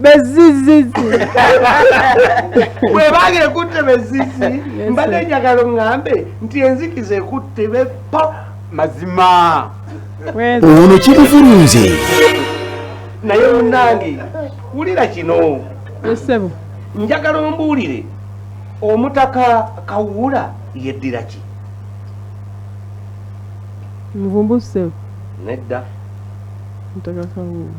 bezizizi bwebaga ekutte bezizi mbadde njagala ŋŋambe nti enzikiza ekutte bepa mazima ono kimuvulunze naye munange wulira kino esebo njagala ombuulire omutaka kawuula yeddira ki muvumbu sebo nedda mutaka kawuula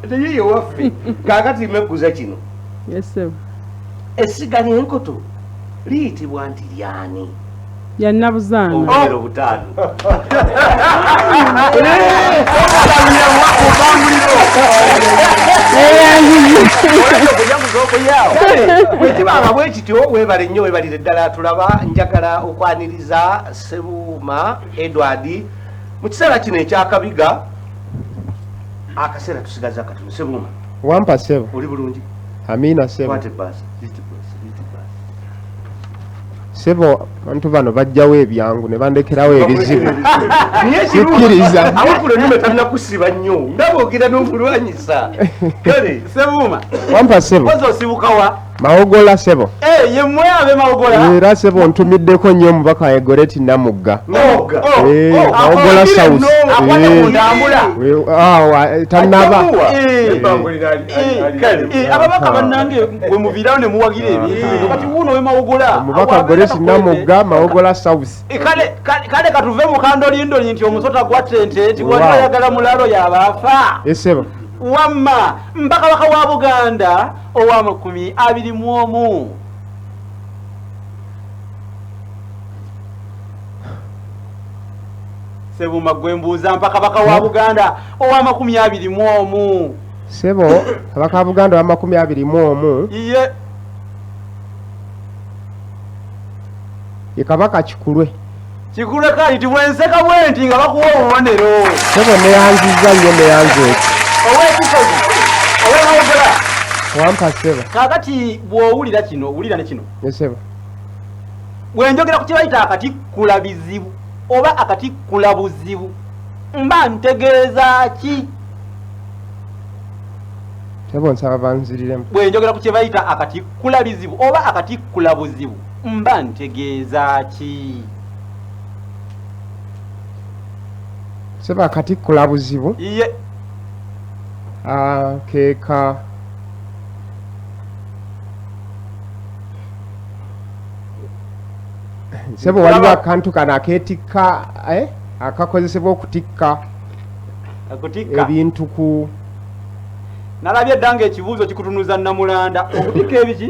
teyeyo waffe kakati mekuza kino essiga lyenkoto liyitibwa nti lyani yannabuzanaobubera obutaano bwekibanga bwe kityo webale nnyo webalire ddala tulaba njagala okwaniriza sebuuma edward mu kiseera kino ekyakabiga akaseera tusigaza katono sebuuma wampa sebo oli bulungi amiina sebo sebo bantu bano bajjawo ebyangu ne bandekerawo ebizibu sikkiriza awakula nnyo talina kusiba nnyo ndaba ogenda n'okulwanyisa kale sebuuma wampa sebo oza osibukawa mawogola sebo eh, yemwe abe mawogola eh, era sebo ntumiddeko nnyo omubaka waye goreti namugga mawogola south tanaba ababaka banange wemuviirawo nemuwagira ebyokati ah. wuno wemawogola omubaka goreti namugga mawogola south eh, kale katuve mukandolindoli nti omusota gwa tente nti wali ayagala mulalo yabaafa esebo wamma mpaka waka wa buganda ow'amakumi abiri mu omu sebuma gwe mbuuza mpa kabaka wa buganda ow'amakumi abiri mu omu sebo kabaka wa buganda ow'amakumi abiri mu omu iye ye kabaka kikulwe kikuleka nti bwenseka bwenti nga bakuwa obubonero sebo neyanziza nyo neyanza eki owekisozi owemwogera wampa sebo kakati bwowulira kino wulira nekino esebo bwenjogera ku kyebayita akatikkula bizibu oba akatikkula buzibu mba ntegeeza ki sebo nsaba banziriremu bwenjogera ku kyebayita akatikkula bizibu oba akatikkula buzibu mba ntegeeza ki seba kati kula buzibu iye ah, keka sebo waliwo akantu kano aketikka eh? akakozesebwa okutikka ebintu ku nalabye dda nga ekibuuzo kikutunuza namulanda okutikka ebiki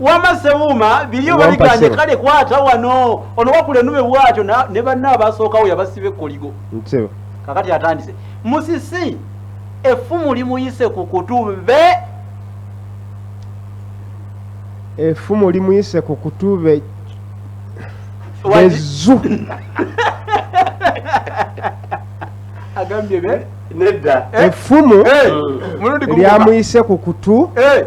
wama sebuuma biri oba biganye kale kwata wano ono wakula enube bwatyo ne banna abasookawo yabasiba ekkoligo kakati atandise musisi effumu limuyise ku kutu be effumu limuyise ku kutu be bezu agambye be nedda effumu eh, lyamuyise ku kutu eh.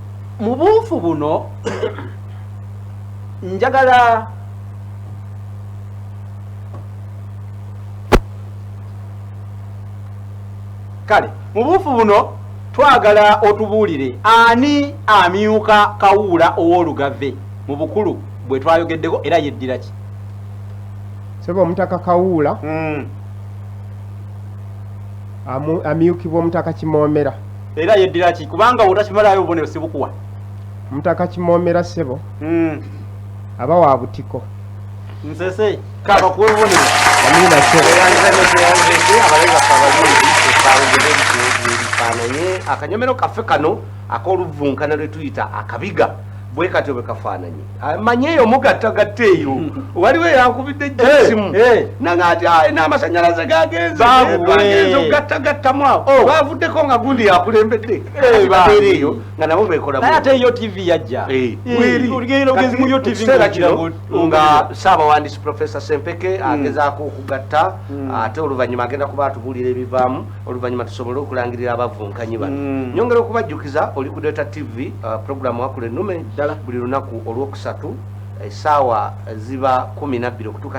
mu buufu buno njagala kale mu buufu buno twagala otubuulire ani amyuka kawuula ow'olugave mu bukulu bwe twayogeddeko era yeddira ki sebe omutaka kawuula mm. amyukibwa omutaka kimoomera era yeddira ki kubanga otakimalayo obubonero sibukuwa mutaka kimoomera ssebo hmm. aba wa butiko nsese kabakuwa obubonero amina ssebo ebifaananye akanyomero kaffe kano ak'oluvunkana lwe tuyita akabiga bwe katyo bwe kafaananyi ah, manyi eyo mugattagatta eyo waliwo eyankubidde jjasimu eh, eh. nanga ati ah, n'amasanyalaze gagenzegenze okugattagattamu awo oh. bavuddeko nga gundi yakulembedde eh, eyo nga nabo bekolaate yo tv yajja nga saabawandisi profesa sempeke hmm. agezaako okugatta hmm. ate oluvannyuma agenda kuba atubuulira ebivaamu oluvannyuma tusobole okulangirira abavunkanyi bano hmm. nyongera okubajjukiza oli ku data tv uh, programu wakula ennume buli lunaku olwokusatu essaawa ziba kumi nabbiri okutuuka